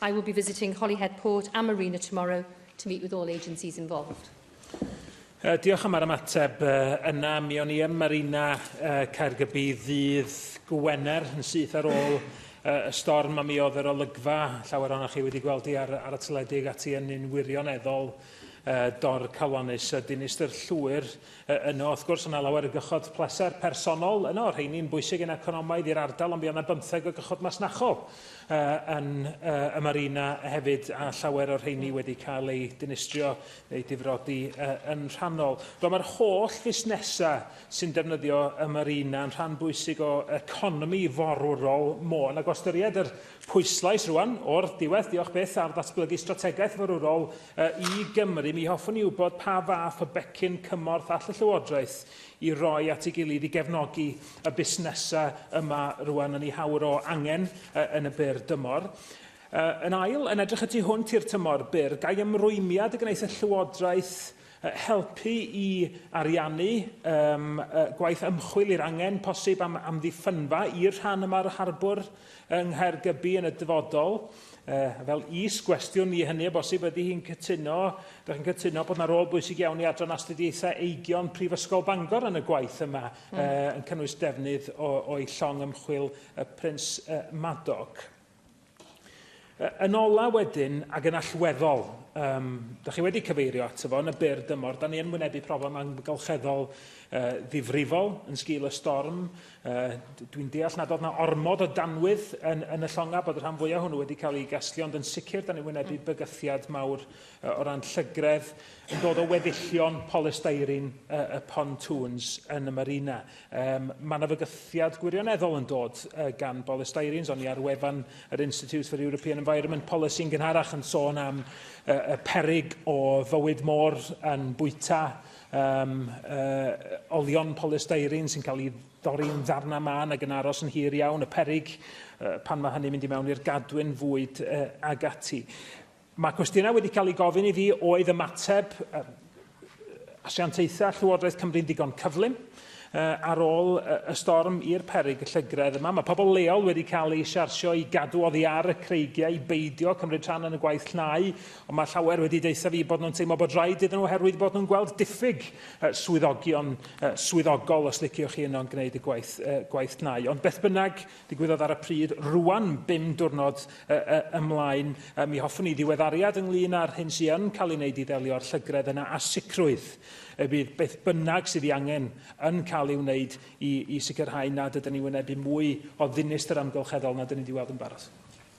I will be visiting Holyhead Port and Marina tomorrow to meet with all agencies involved. Uh, diolch am yr ymateb uh, yna. Mi o'n i ym Marina uh, Caergybi ddydd Gwener yn syth ar ôl uh, y storm a mi oedd yr olygfa llawer o'n chi wedi gweld i ar, ar y teledu ag ati yn un wirioneddol uh, dor calonus a dinistr llwyr Yy yno wrth gwrs o' 'na lawer o gychod pleser personol yno, rheini'n bwysig yn economaidd i'r ardal ond mi o' 'na bymtheg o gychod masnachol yy yn yy y marina hefyd a llawer o'r rheini wedi cael eu dinistrio neu difrodi yy yn rhannol. Wel ma'r holl fusnesa sy'n defnyddio y marina yn rhan bwysig o economi forwrol Môn ac o ystyried yr pwyslais rwan o'r diwedd, diolch byth, ar ddatblygu strategaeth forwrol I Gymru, mi hoffwn i wybod pa fath o becyn cymorth all y Llywodraeth i roi at ei gilydd i gefnogi y busnesau yma rwan yn ei hawr o angen yn y byr dymor. Yn ail, yn edrych y tu hwnt i'r tymor byr, gai ymrwymiad y gwneith y Llywodraeth helpu i ariannu gwaith ymchwil i'r angen posib am, am ddiffynfa i'r rhan yma o'r harbwr yng Nghaergybi yn y dyfodol. Uh, fel is gwestiwn i hynny o bosib, ydy hi'n cytuno, ydych chi'n cytuno bod yna rôl bwysig iawn i adran astudiaethau eigion Prifysgol Bangor yn y gwaith yma, mm. uh, yn cynnwys defnydd o'i llong ymchwil y Prins uh, Madoc. Yn ola wedyn, ac yn allweddol, um, da chi wedi cyfeirio ato fo, yn y byr dymor, da ni yn wynebu problem amgylcheddol uh, ddifrifol yn sgil y storm. Uh, Dwi'n deall nad oedd na ormod o danwydd yn, yn y llonga bod y rhan fwyaf hwnnw wedi cael ei gasglu, ond yn sicr da ni'n wynebu mm. bygythiad mawr uh, o ran llygredd yn dod o weddillion polystyrene uh, y pontoons yn y marina. Um, mae yna fygythiad gwirioneddol yn dod uh, gan Boris Styrens, ond ni ar wefan yr Institute for European Environment Policy yn gynharach yn sôn am uh, y perig o fywyd môr yn bwyta um, uh, olion polystyrene sy'n cael ei dorri'n ddarna man ac yn aros yn hir iawn, y perig uh, pan mae hynny'n mynd i mewn i'r gadwyn fwyd uh, ag ati. Mae cwestiynau wedi cael eu gofyn i fi oedd ymateb asiantaethau Llywodraeth Cymru'n ddigon cyflym ar ôl y storm i'r peryg y llygredd yma. Mae pobl leol wedi cael eu siarsio i gadw oddi ar y creigiau i beidio cymryd rhan yn y gwaith llnau, ond mae llawer wedi deutha fi bod nhw'n teimlo bod rhaid iddyn nhw oherwydd bod nhw'n gweld diffyg swyddogion swyddogol, os liciwch chi, yno'n gwneud y gwaith, gwaith llnau. Ond beth bynnag, ddigwyddodd ar y pryd, rwan bum diwrnod ymlaen, mi hoffwn i ddiweddariad ynglŷn â'r hyn sy'n yn cael ei wneud i ddelio â'r llygredd yna a sicrwydd y bydd beth bynnag sydd i angen yn cael ei wneud i, i sicrhau nad ydyn ni wynebu mwy o ddinistr amgylcheddol nad ydyn ni wedi weld yn barod.